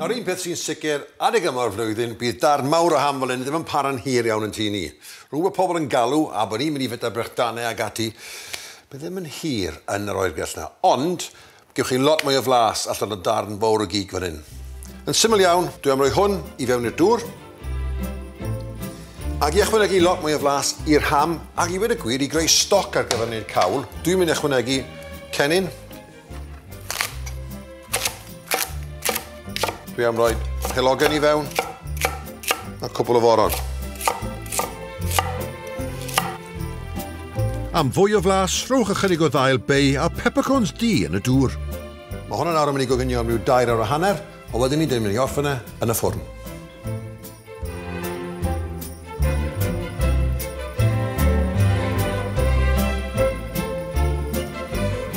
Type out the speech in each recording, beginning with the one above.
Nawr un peth sy'n sicr, adeg yma o'r flwyddyn, bydd darn mawr o ham fel hyn ddim yn para'n hir iawn yn tŷ ni. Rhwng bod pobl yn galw a bod ni'n mynd i fita brechdanau ac ati, bydd e ddim yn hir yn yr oergell 'na. Ond, Gewch chi lot mwy o flas allan o darn fowr o gig fan hyn. Yn syml iawn, dwi am roi hwn i fewn i'r dŵr, ac i ychwanegu lot mwy o flas i'r ham, ac i ddweud y gwir, i greu stoc ar gyfer wneud cawl, dwi'n mynd i ychwanegu cennin, Dwi am roi pelogen i fewn a cwbl o foron. Am fwy o flas, rhowch ychydig o ddail bay a peppercorns du yn y dŵr. Mae hwn yn awr yn mynd i goginio am ryw dair awr a hanner, a wedyn ni'n mynd i orffen e yn y ffwrn.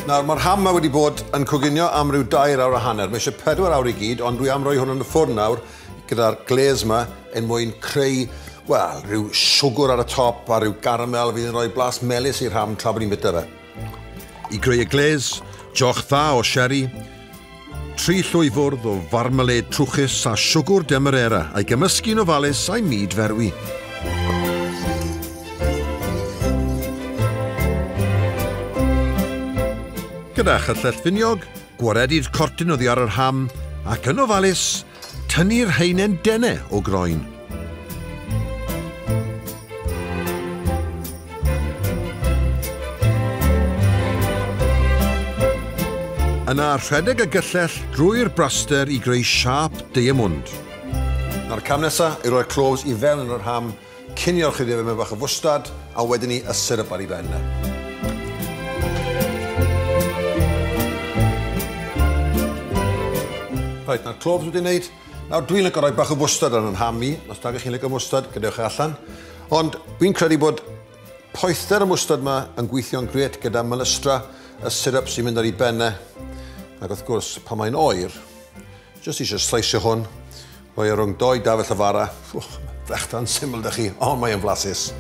Nawr, mae'r ham ma wedi bod yn coginio am ryw dair awr a hanner. Mae eisiau pedwar awr i gyd, ond dwi am roi hwn yn y ffwrn nawr gyda'r glaze ma yn mwyn creu, wel, rhyw siwgwr ar y top a rhyw garamel fydd yn rhoi blas melus i'r ham tra bod ni'n bita fe. I greu y glês, joch dda o sherry, tri llwy fwrdd o farmalêd trwchus a siwgwr demerera a'i gymysgu'n ofalus a'i myd ferwi. Gyda chyllell finiog, gwaredu'r cortyn oddi ar yr ham ac yn ofalus, Tynnu'r haenen dene o groen. Yna rhedeg y gyllell drwy'r braster i greu siâp deiamwnd. Nawr cam nesa yw roi'r cloves i fewn yn yr ham Cinio ychydig efo mewn bach o fwstard a wedyn ni y syrup ar ei ben. Reit, nawr cloves wedi wneud. Nawr dwi'n lygo rhoi bach o fwstard ar yn ham i, os da chi'n lygo mwstard, gadewch e allan. Ond fi'n credu bod poether y mwstard yma yn gweithio'n gret gyda mylystra y syrup sy'n mynd ar ei benne. Ac wrth gwrs, pan mae'n oer, Jyst eisiau sleisio hwn. Rhoi e rhwng dou dafell y fara. Wch, brechdan syml da chi, ond mae'n flasus.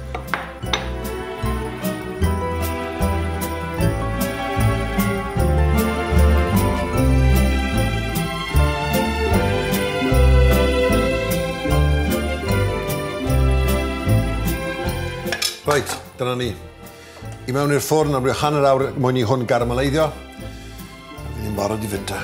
Reit, dyna ni. I mewn i'r ffwrn am ryw hanner awr mwyn i hwn garamaleiddio. Fi ddim barod i fynd da.